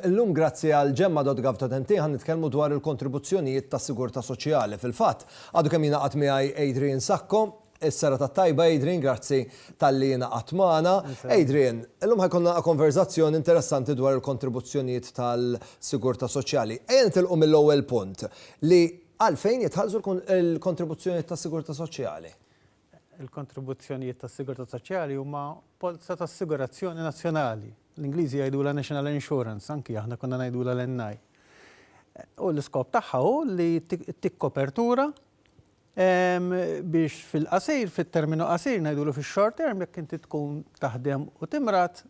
Illum grazzi għal gemma.gov.mt ħa nitkellmu dwar il-kontribuzzjonijiet tas-sigurtà soċjali. Fil-fatt, għadu kemm jingħaqad miegħi Adrian Sacco. Is-sera tat-tajba Adrian, grazzi talli ingħaqadt magħna. Adrian, illum ħajkonna konverżazzjoni interessanti dwar il-kontribuzzjonijiet tal-sigurtà soċjali. Ejja nitilqu mill-ewwel punt li Għalfejn jitħallsu l-kontribuzzjonijiet tas-sigurtà soċjali? Il-kontribuzzjonijiet tas-sigurtà soċjali huma polza ta' assigurazzjoni nazzjonali. L-Ingliżi jgħidulha national insurance, anki aħna konna ngħidulha l-NI. U l-iskop tagħha hu li ttik kopertura biex fil-qasir, fit-terminu qasir, ngħidulu fix-short term, jekk inti tkun taħdem u timrad,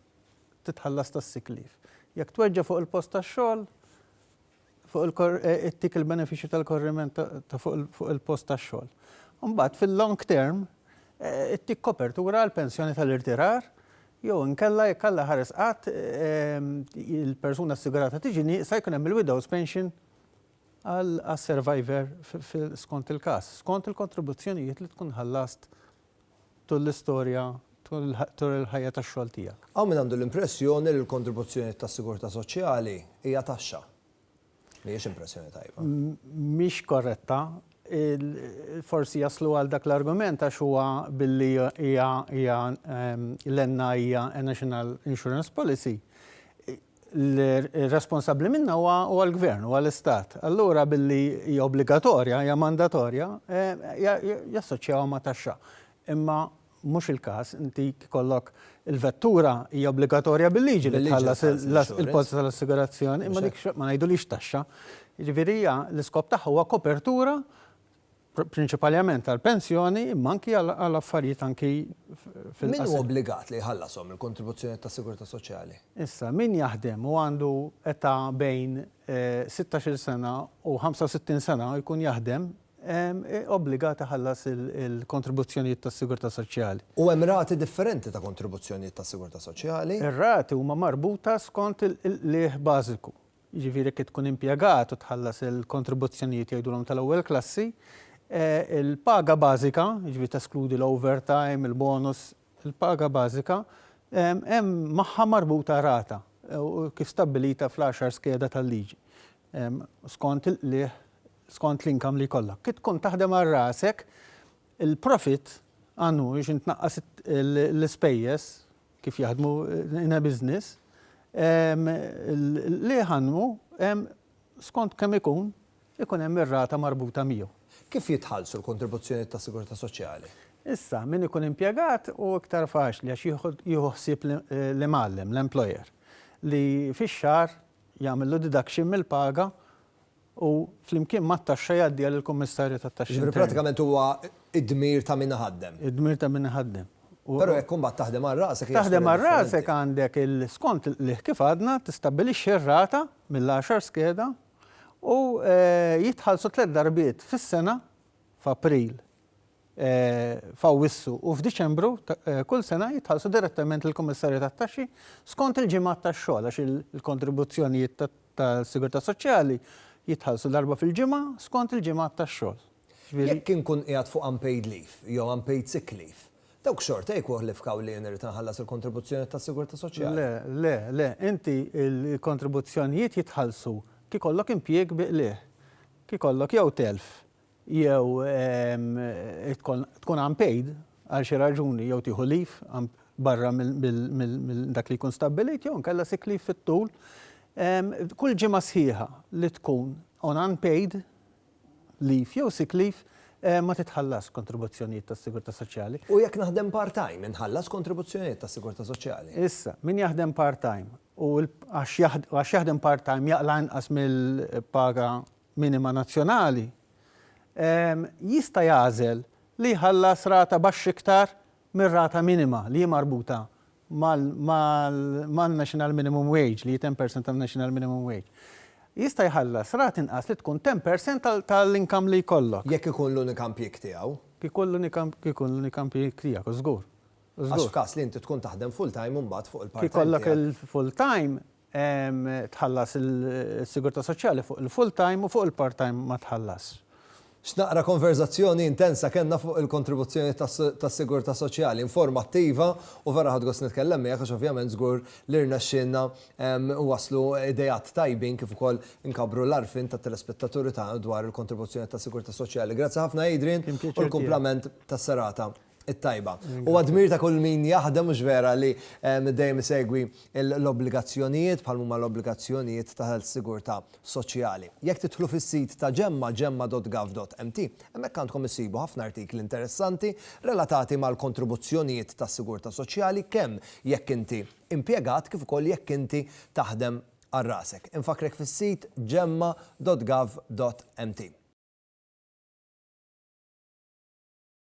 titħallas tas-sick leave. Jekk tweġġa' fuq il-post tax-xogħol, fuq il-tik il-benefiċċju tal-korriment ta' fuq il-post tax-xogħol. Imbagħad fil-long term ittik kopertura għal pensjoni tal-irtirar jew inkella jekk Alla ħares qatt il-persuna assigurata tiġi nieqsa jkun hemm il-widow's pension għas-survivor skont il-każ, skont il-kontribuzzjonijiet li tkun ħallast tul l-istorja, tul il-ħajja tax-xogħol tiegħek. Hawn min għandu l-impressjoni li l-kontribuzzjonijiet tas-sigurtà soċjali hija taxxa. Mhijiex impressjoni tajba. Mhix korretta. Forsi jaslu għal dak l-argument għax huwa billi hija l-NI hija National Insurance Policy, l-responsabbli minnha huwa l-Gvern, huwa l-Istat. Allura billi hija obbligatorja, hija mandatorja, jassoċjawha ma' taxxa. Imma mhux il-każ, inti jkollok il-vettura hija obbligatorja bil-liġi li tħallas il-polza tal-assigurazzjoni, imma dik ma ngħidulhiex taxxa. Jiġifieri hija l-iskop tagħha huwa kopertura prinċipalment għall-pensjoni imma anki għal affarijiet anki fil-qasam. Min hu obbligat li jħallashom il-kontribuzzjonijiet tas-sigurtà soċjali? Issa, min jaħdem u għandu età bejn sittax-il sena u ħamsa u sittin sena u jkun jaħdem, obbligat iħallas il-kontribuzzjonijiet tas-sigurtà soċjali. U hemm rati differenti ta' kontribuzzjonijiet tas-sigurtà soċjali. Ir-rati huma marbuta skont il-qligħ bażiku. jiġifieri jekk tkun impjegat u tħallas il-kontribuzzjonijiet jgħidulhom tal-ewwel klassi, il-paga bażika, jiġifieri teskludi l-overtime, il-bonus, il-paga bażika hemm magħha marbuta rata kif stabbilita fl-għaxar skeda tal-liġi skont il-qligħ skont l-income li jkollok. Kif tkun taħdem għal rasek, il-profit għandu biex intnaqqas l-ispejjeż, kif jaħdmu in a business, li jħaddmu hemm skont kemm ikun, ikun hemm ir-rata marbuta miegħu. Kif jitħallsu l-kontribuzzjonijiet tas-sigurtà soċjali? Issa, min ikun impjegat hu iktar faċli għax jieħu ħsieb l-imgħallem, l-employer, li fix-xahar jagħmillu deduction mill-paga u flimkien mat-taxxa jgħaddiha lill-kummissarju tat-taxxi interni. Jiġifieri prattikament huwa d-dmir ta' min iħaddem. Id-dmir ta' min iħaddem. Però jekk imbagħad taħdem għal rasek hija storja differenti. Taħdem għal rasek għandek il, skont li kif għadna tistabbilixxi r-rata mill-għaxar skeda u jitħallsu tliet darbiet fis-sena, f'April, f'Awwissu u f'Diċembru ta' kull sena jitħallsu direttament lill-kummissarju tat-taxxi skont il-ġimgħat tax-xogħol għax il-kontribuzzjonijiet ta' tas-Sigurtà Soċjali jitħallsu darba fil-ġimgħa skont il-ġimgħat tax-xogħol. Jiġifieri. Jekk inkun qiegħed fuq unpaid leave jew unpaid sick leave, dawk xorta jikkwalifkaw li jien irrid inħallas il-kontribuzzjonijiet tas-Sigurtà Soċjali? Le, le, le. Inti l-kontribuzzjonijiet jitħallsu kif ikollok impjieg bi qligħ, kif ikollok jew telf, jew tkun unpaid għal xi raġuni jew tieħu leave barra minn dak li jkun stabbilit jew inkella sick leave fit-tul, kull ġimgħa sħiħa li tkun on unpaid leave jew sick leave ma titħallasx kontribuzzjonijiet tas-sigurtà soċjali. U jekk naħdem part-time inħallas kontribuzzjonijiet tas-sigurtà soċjali? Issa, min jaħdem part-time u għax jaħdem part-time jaqla' inqas mill-paga minima nazzjonali, jista' jagħżel li jħallas rata baxx iktar mir-rata minima li hi marbuta man-national minimum wage, li hi 10 per cent tan-national minimum wage. Jista' jħallas rata inqas li tkun 10 per cent tal-income li jkollok. Jekk ikun l-unika impjieg tiegħu. Jekk ikun l-unika, jekk ikun l-unika impjieg tiegħek, żgur. Għax f'każ li inti tkun taħdem full-time imbagħad fuq il-part-time tiegħek. Jekk ikollok il-full-time, Tħallas is-sigurtà soċjali fuq il-full time u fuq il-part time ma tħallasx. X'naqra konverżazzjoni intensa kellna fuq il-kontribuzzjoni tas-sigurtà soċjali, informattiva u vera ħadt gost nitkellem miegħek għax ovvjament żgur li rnexxielna nwasslu ideat tajbin kif ukoll inkabbru l-għarfien tat-telespettaturi tagħna dwar il-kontribuzzjoni tas-sigurtà soċjali. Grazzi ħafna Adrian u l-kumplament tas-serata. it-tajba. Huwa dmir ta' kull min jaħdem, mhux vera, li dejjem isegwi l-obbligazzjonijiet bħal m'huma l-obbligazzjonijiet tal-sigurtà soċjali. Jekk tidħlu fis-sit ta' Gemma, gemma.gov.mt, hemmhekk għandkom issibu ħafna artikli interessanti relatati mal-kontribuzzjonijiet tas-sigurtà soċjali kemm jekk inti impjegat kif ukoll jekk inti taħdem għal rasek. Infakkrek fis-sit gemma.gov.mt.